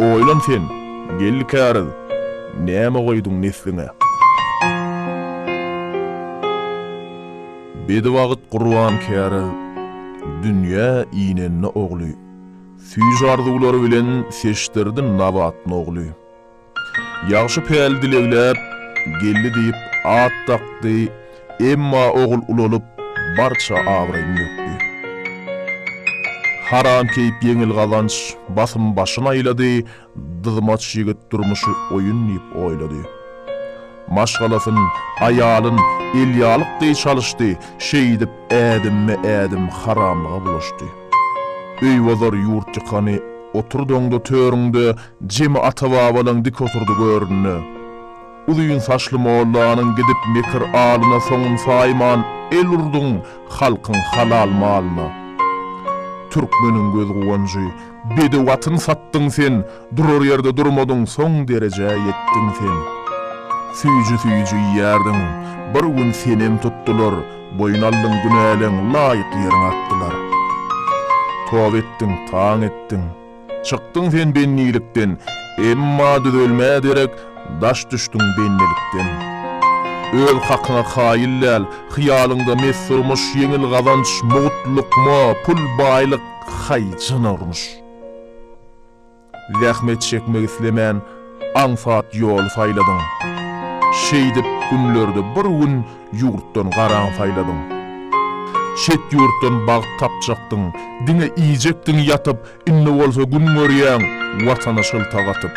Oýlan sen, geldi käriz, näme goýduň nesliňe. Bedewagt gurban käriz, dünýä inende ogly, süýji-arzuwlary bilen seçdirdi Nabat nogly. Ýagşy päl dilegläp, geldi diýip at dakdy, Emma ogul ulalyp, barça abraýyny dökdi. Haram keýp ýeňil gazanç, basym başyn aýlady, dyzmaç ýigit durmuşy oýun diýip oýlady. Maşgalasyn, aýalyn elýalyk deý çalyşdy, şeýdip ädimme-ädim haramlyga bulaşdy. Öý bozar ýurt ýykany oturdyňda törüňde jemi ata-babalaň dik oturdy göründe. Uzyn saçly mollanyň gidip mekir alyna soňun saýman el urduň halkyň halal malyna. Türkmeniň göz guwanjy, bedew atyn satdyň sen, durar ýerde durmadyň soň derejä ýetdiň sen. Süýji süýji iýerdiň, bir gün senem tutdular, boýun aldyň günäleň laýyk ýeriňe atdylar. Toba etdiň, taň etdiň. Çykdyň sen bennilikden, Emma düzelmä derek daş düşdüň bennilikden. Öz hakyňa kaýyl däl, Hyýalyňda mes durmuş, Ýeňil gazanç, mugt lukma, Pul, baýlyk, haý, jana urmuş. Zähmet çekmek islemän, aňsat ýoly saýladyň. Şeýdip günlerde bir gün ýurtdan garaň saýladyň. Çet ýurtdan bagt tapjakdyň, diňe iýjekdiň ýatyp, indi bolsa gün görýäň Watana şylta gatyp.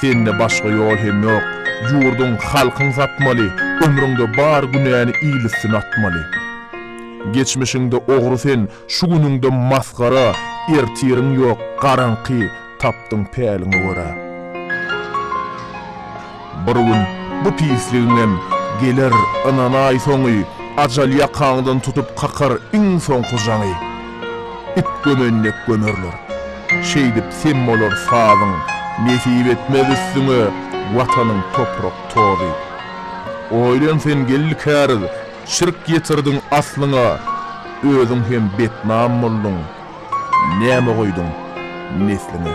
Sende başga ýol hem ýok, ýurduň, halkyň satmaly, ömrüňde bar günäni il üstüne atmaly. Geçmişiňde ogry sen, şu günüňde masgara, ertiriň ýok, garaňky, tapdyň päliňe görä. Bir gün bu pisligiňem geler ynanaý soňy, ajal ýakaňdan tutup kakar iň soňky jaňy. It gömen dek gömerler. Şeýdip sem bolar sazyň, nesip etmez üstüňe Watanyň toprak tozy. Oýlan sen geldi käriz, şirk ýetirdiň aslyňa, özüň hem betnam bolduň. Näme goýduň nesliňe?